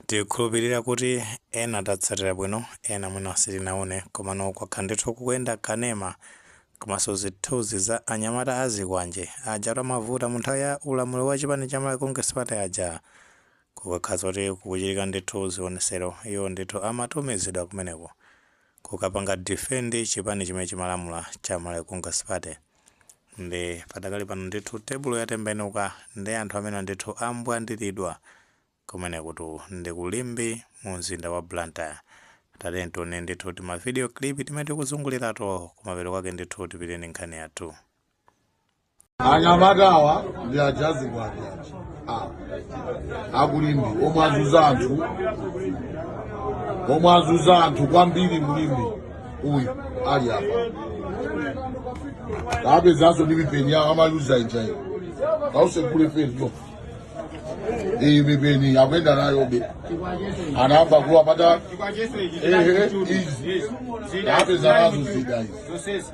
tikhulupirira kuti ena tatsatira bwino ena mwina sitinaone komano kwakhala ndithu kukuyenda kanema komanso zithunzi za anyamata azikwanje aja amavuta mu nthawi ya ulamuliro wa chipani cha malawi congress party aja kukakhala kuti kukuchitika ndithu zionesero iwo ndithu amatumizidwa kumeneko kukapanga defend chipani chimene chimalamula cha Malawi Congress Party nde padakali pano ndithu tebulo yatembenuka nde anthu amene ndithu ambwandilidwa kumenekutu ndi ku Limbe mu mzinda wa Blantyre tatiyeni tione ndithu tima video clip timene tikuzungulirato kumapeto kwake ndithu tipite ndi nkhani yathu. anyamatawa ndi aja azikwanje aja awa aku Limbe omwe azuza anthu omwe azuza anthu kwambiri mu Limbe uyu ali apa tawapezanso ndi mipeni yawo amaluza ija iyo kausekule fezio iyi mipeni akuenda nayobe anayamba kuwa pata ehe izi tawapeza nazo zida izi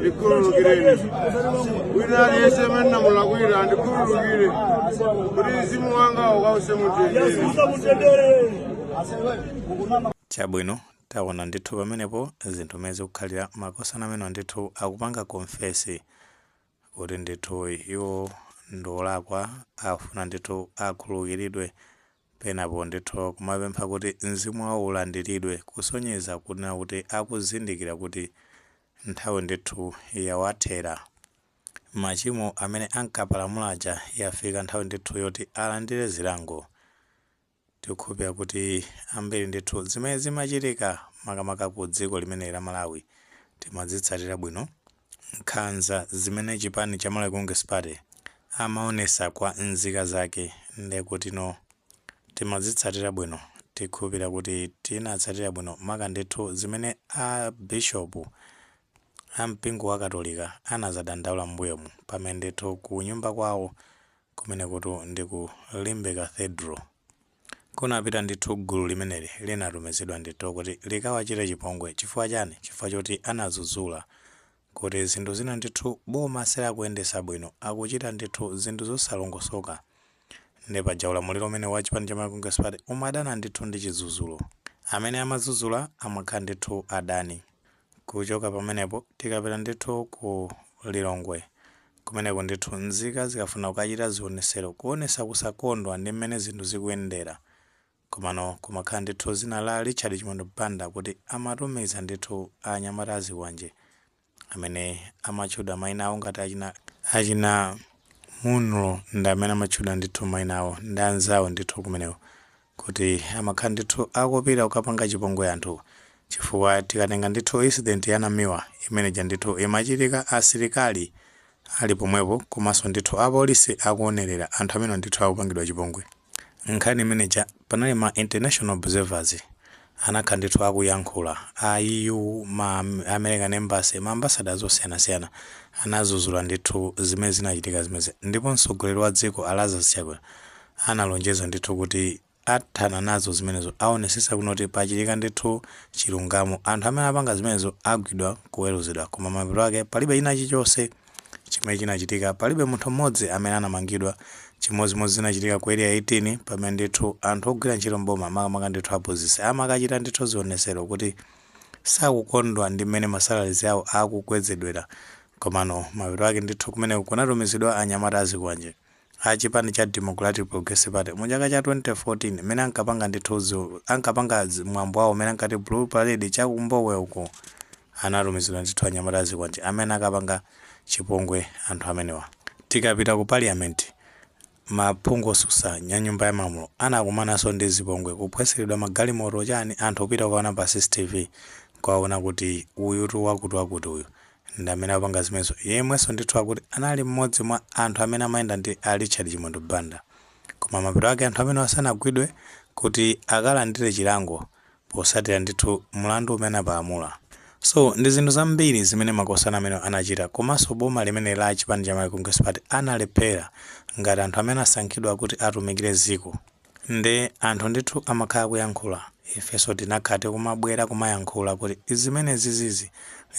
ndikhululukireni wina aliyense amene ndamulakwira andikhululukire kuti mzimu wanga ukause mumtendere chabwino taona ndithu pamenepo zinthu mene zikukhalira makosana amene ndithu akupanga konfesi kuti ndithu iwo ndiolakwa afuna ndithu akhululukilidwe penapo ndithu kumapempha kuti mzimu wawo ulandilidwe kusonyeza kunena kuti akuzindikira kuti nthawi ndithu yawathera machimo amene ankapalamula aja yafika nthawi ndithu yoti alandire zilango Tikukhulupira kuti ambiri ndithu zimene zimachitika makamaka ku dziko limene la Malawi timazitsatira bwino, nkhanza zimene chipani cha Malawi Congress Party amaonesa kwa nzika zake ndi kutino timazitsatira bwino, tikhulupira kuti tinatsatira bwino maka ndithu zimene a Bishop a mpingo wa Katolika anazadandaula mmbuyomu pamene ndithu kunyumba kwawo Kumenekutu ndi ku Limbe Cathedral. Kunapita ndithu gulu limeneli linatumizidwa ndithu kuti likawachite chipongwe. Chifukwa chani? Chifukwa choti anadzudzula kuti zinthu zina ndithu boma silakuyendesa bwino, akuchita ndithu zinthu zosalongosoka. Nde paja ulamuliro umenewu wa chipani cha Malawi Congress Party umadana ndithu ndi chidzudzulo. Amene amadzudzula amakhala ndithu adani. Kuchoka pamenepo tikapita ndithu ku Lilongwe Kumeneko ndithu nzika zikafuna kukachita zionesero kuonesa kusakondwa ndi mmene zinthu zikuyendera komano kumakhala ndithu dzina la Richard Chimwendo Banda kuti amatumiza ndithu anyamata azikwanje amene amatchudwa maina awo ngati achina Munlo ndi amene amatchudwa ndithu maina awo ndi anzawo ndithu kumeneko kuti amakhala ndithu akupita kukapanga chipongwe anthu chifukwa tikatenga ndithu incident ya Namiwa imene ija ndithu imachitika asilikali ali pomwepo komanso ndithu apolisi akuonerera anthu amenewa ndithu akupangidwa chipongwe nkhani imene ija panali ma international observers Anakhala ndithu akuyankhula a EU ma American embassy ma ambassadors osiyanasiyana anadzudzula ndithu zimene zinachitika zimenezi ndipo mtsogoleri wa dziko a Lazarus Chakwera analonjeza ndithu kuti athana nazo zimenezo awonetsetsa kunoti pachitika ndithu chilungamo anthu amene apanga zimenezo agwidwa kuweruzidwa koma mapeto ake palibe china chichonse chimene chinachitika, palibe munthu mmodzi amene anamangidwa. Chimodzimodzi zinachitika ku Area 18 pamene ndithu anthu ogwira ntchito m'boma makamaka ndithu aphunzitsi amakachita ndithu zionesero kuti sakukondwa ndi mmene ma salaries awo akukwezedwera komano mapeto ake ndithu kumeneko kunatumizidwa anyamata azikwanje. a chipani cha Democratic Progressive Party mu chaka cha 2014 mmene ankapanga ndithu zi, ankapanga zi- mwambo wawo umene ankati Blue Parade cha ku Mbowe uku anatumizidwa ndithu anyamata a zikwanje amene anakapanga chipongwe anthu amenewa. Tikapita ku Parliament, maphungu otsutsa nya nyumba ya malamulo anakumananso ndi zipongwe, kuphwasulidwa magalimoto chani, anthu kupita kukaona pa CCTV nkukaona kuti uyutu wakuti wakuti uyu ndi amene apanga zimenezo yemwenso ndithu akuti anali mmodzi mwa anthu amene amayenda ndi a Richard Chimwendo Banda koma mapeto ake anthu amenewa sanagwidwe kuti akalandire chilango potsatira ndithu mlandu umene apalamula. So ndi zinthu zambiri zimene makosana amenewa anachita komanso boma limeneli la chipani cha Malawi Congress Party analephera ngati anthu amene asankhidwa kuti atumikire dziko. Nde anthu ndithu amakhala akuyankhula ifenso tinakhala tikumabwera kumayankhula kuti zimenezizizi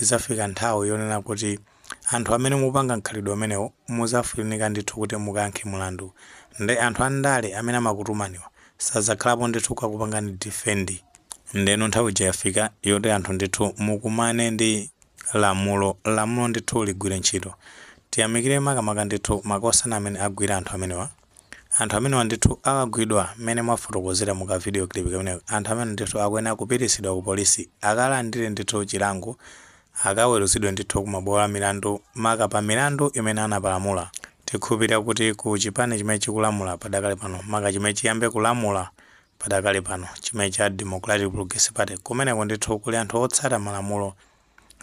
idzafika nthawi yonena kuti anthu amene mupanga mkhalidwe umenewo mudzafunika ndithu kuti mukayankhe mlandu nde anthu andale amene amakutumaniwa sadzakhalapo ndithu kukakupangani defend ndeno nthawi ija yafika yoti anthu ndithu mukumane ndi lamulo lamulo ndithu ligwire ntchito tiyamikire makamaka ndithu makosana amene agwira anthu amenewa Anthu amenewa ndithu akagwidwa mmene mwafotokozera mu ka video clip kameneko, anthu amenewa ndithu akuyenera kupititsidwa ku police akalandire ndithu chilango, akaweruzidwe ndithu ku mabwalo a milandu maka pa milandu imene anapalamula. Tikhulupirira kuti ku chipani chimene chikulamula padakali pano, maka chimene chiyambe kulamula padakali pano, chimene cha Democratic Progressive Party, kumeneko ndithu kuli anthu otsata malamulo,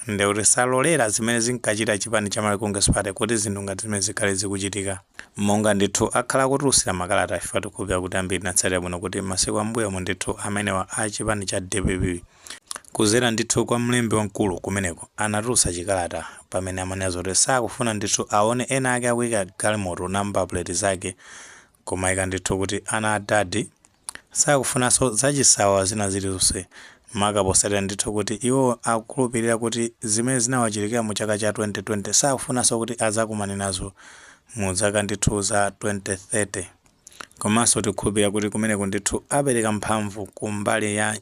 nde kuti salolera zimene zinkachita chipani cha Malawi Congress Party kuti zinthu ngati zimenezi zikhale zikuchitika. Monga ndithu akhala akutulutsa makalata ife tikukhulupirira kuti ambiri tinatsatira bwino kuti masiku a m'mbuyomu ndithu amenewa a chipani cha dpp kudzera ndithu kwa mlembi wamkulu kumeneko anatulutsa chikalata pamene amanena zakuti sakufuna ndithu aone ena ake akuyika galimoto namba plate zake kumayika ndithu kuti ana a dadi Sakufunanso zachisawawa zina zilizonse, maka potsatira ndithu kuti iwo akukhulupilira kuti zimene zinawachitikira mu chaka cha 2020 sakufunanso kuti adzakumane nazo mu zaka ndithu za 2030. Komanso tikukhulupilira kuti kumeneko ndithu apereka mphamvu ku mbali ya.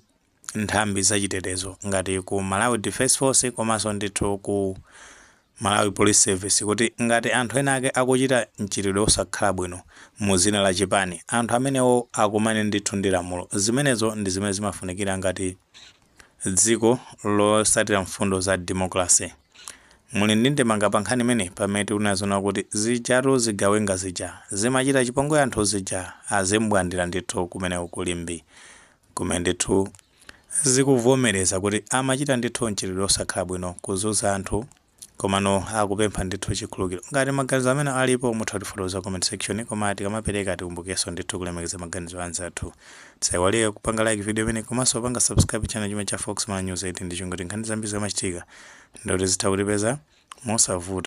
nthambi za chitetezo ngati ku Malawi Defence Force komanso ndithu ku Malawi Police Service kuti ngati anthu ena ake akuchita mchitidwe osakhala bwino mu dzina la chipani, anthu amenewo akumane ndithu ndi lamulo. Zimenezo ndi zimene zimafunikira ngati dziko lotsatira mfundo za democracy. Muli ndi ndemanga pa nkhani imeneyi? Pamene tikuona zoona kuti zijatu zigawenga zija, zimachita chipongwe anthu zija, azimbwandira ndithu kumeneko ku Limbe. Kumene ndithu zikuvomereza kuti amachita ndithu mchitidwe osakhala bwino, kuzunza anthu, komano akupempha ndithu chikhululukiro. Ngati maganizo amenewa alipo mutha kutifotokoza ku comment section koma tikamapereka tikumbukenso ndithu kulemekeza maganizo a anzathu. Musaiwale kupanga like video imeneyi komanso kupanga subscribe channel chimenechi cha Fox Malawi News 18 n'cholinga choti nkhani zambiri zikamachitika ndiye kuti zitha kutipeza mosavuta.